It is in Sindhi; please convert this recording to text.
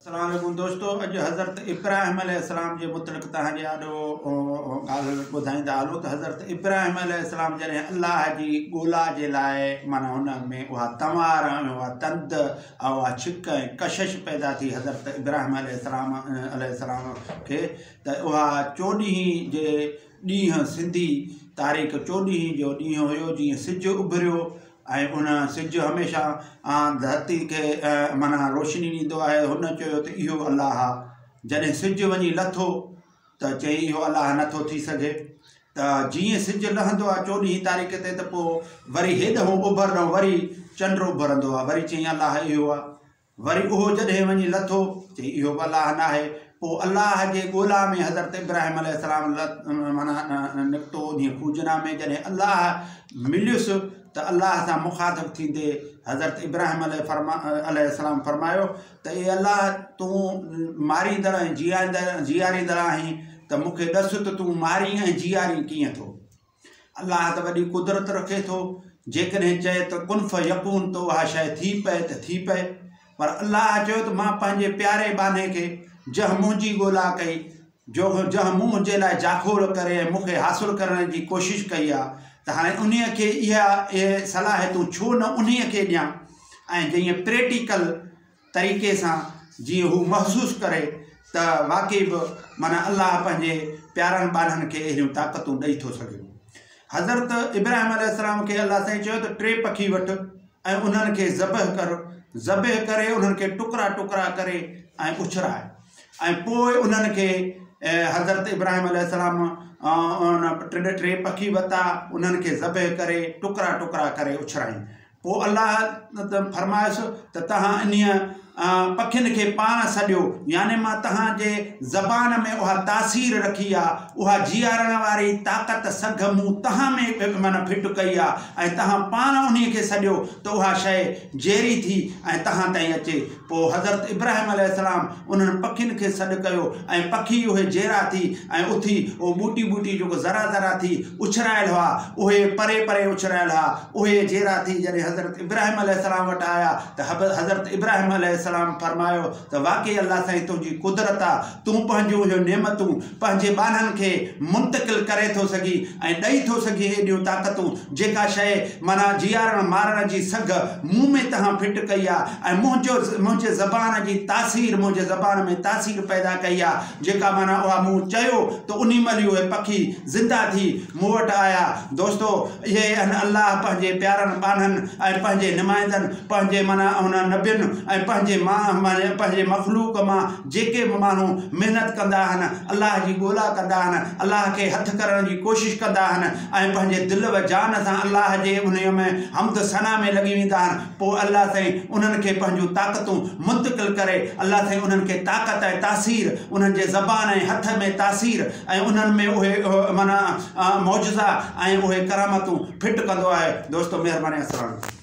اسلام عليڪم دوستو اڄ حضرت ابراهيم عليه السلام جي متعلق توهان جي آڏو ڳالهه ٻڌائيندا هلون ته حضرت ابراهيم عليه السلام جڏهن الله جي ڳولا جي لاء معنی هن ۾ اها تنوار ۽ اها تند ۽ اها ڇڪ ۽ ڪشش پيدا ٿي حضرت ابراهيم عليه السلام عليه السلام کي ته اها چوڏهين جي ڏينهن سنڌي تاريخ چوڏهين جو ڏينهن هيو جيئن سج اڀريو ۽ ان، سج، هميشه آن ڌرتي کي معنيٰ روشني ڏيندو آهي. هن چيو ته اهو الله آهي. جڏهن سج وڃي لٿو ته چئي اهو الله نه ٿو ٿي سگهي ته جيئن سج لهندو آهي چوڏهين تاريخ تي ته پوء وري هيڏهون اوڀر ڏانهن وري چنڊ اڀرندو آهي وري چئي الله اهو آهي. وري اهو جڏهن وڃي لٿو، چئي اهو به الله ناهي. پوء الله جي ڳولا ۾ حضرت ابراهيم عليه السلام معنيٰ نڪتو. انهيء کوهه جنا ۾ جڏهن الله مليس ته الله سان مخاطب ٿيندي حضرت ابراهيم عليه السلام فرمايو ته اي الله! تون ماريندڙ ۽ جيئاريندڙ آهين ته مون کي ڏس ته تون مارين ۽ جيئارين ڪيئن ٿو؟ الله ته وڏي قدرت رکي ٿو، جيڪڏهن چئي ته ڪن فيڪون ته اها شيء ٿي پئي ته ٿي پئي. پر الله چيو ته مان پنهنجي پياري ٻانهي کي جنهن منهنجي ڳولا ڪئي، جنهن منهن جي لاء جاکوڙ ڪري ۽ مون کي حاصل ڪرڻ جي ڪوشش ڪئي آهي ته هاڻي انهي کي اهي صلاحيتون ڇو نه انهي کي ڏيان ۽ جيئن پريٽيڪل طريقي سان جيئن هو محسوس ڪري ته واقعي به معنيٰ الله پنهنجي پيارن ٻانهن کي اهڙيون طاقتون ڏئي ٿو سگهي. حضرت ابراهيم عليه السلام کي الله سائين چيو ته ٽي پکي وٺ ۽ انهن کي ذبح ڪر، ذبح ڪري انهن کي ٽڪرا ٽڪرا ڪري ۽ اڇراء ۽ پوء انهن کي حضرت ابراهيم عليه السلام ان ٽي پکي ورتا انهن کي ذبح ڪري ٽڪرا ٽڪرا ڪري اڇرايائين. پوء الله تعالي فرمايس ته توهان انهيء پکين کي پاڻ سڏيو، يعني مان توهان جي زبان ۾ اها تاثير رکي آهي، اها جيئارڻ واري طاقت، سگهه، مون توهان ۾ معنيٰ فٽ ڪئي آهي ۽ توهان پاڻ انهيء کي سڏيو ته اها شيء جيئري ٿي ۽ توهان تائين اچي. پوء حضرت ابراهيم عليه السلام انهن پکين کي سڏ ڪيو ۽ پکي اهي جيئرا ٿي ۽ اٿي اهو ٻوٽي ٻوٽي جيڪو ذرا ذرا ٿي اڇرايل هئا اهي پري پري اڇرايل ها اهي جيئرا ٿي جڏهن حضرت ابراهيم عليه السلام وٽ آيا ته حضرت ابراهيم عليه السلام فرمايو ته واقعي الله سائين تنهنجي قدرت آ تون پنهنجون اهي نعمتون پنهنجي ٻانهن کي منتقل ڪري ٿو سگهي ۽ ڏئي ٿو سگهي ايڏيون طاقتون جيڪا شيء معنيٰ جيارڻ مارڻ جي سگهه مون ۾ تنهن فٽ ڪئي آ ۽ منهنجو منهنجي زبان جي تاثير منهنجي زبان ۾ تاثير پيدا ڪئي آ جيڪا معنيٰ اها مون چيو ته انهي مهل ئي اهي پکي زنده ٿي مون وٽ آيا دوستو اهي ان الله پنهنجي پيارن ٻانهن ۽ پنهنجي نمائندن پنهنجي معنيٰ انهن نبين ۽ پنهنجي مان پنهنجي مخلوق مان جيڪي به ماڻهو محنت ڪندا آهن، الله جي ڳولا ڪندا آهن، الله کي هٿ ڪرڻ جي ڪوشش ڪندا آهن ۽ پنهنجي دل و جان سان الله جي انهيء ۾ حمد ثنا ۾ لڳي ويندا آهن، پوء الله سائين انهن کي پنهنجون طاقتون منتقل ڪري، الله سائين انهن کي طاقت ۽ تاثير، انهن جي زبان ۽ هٿ ۾ تاثير ۽ انهن ۾ اهي معنيٰ معجزا ۽ اهي ڪرامتون فٽ ڪندو آهي. دوستو مهرباني اسلام عليڪم.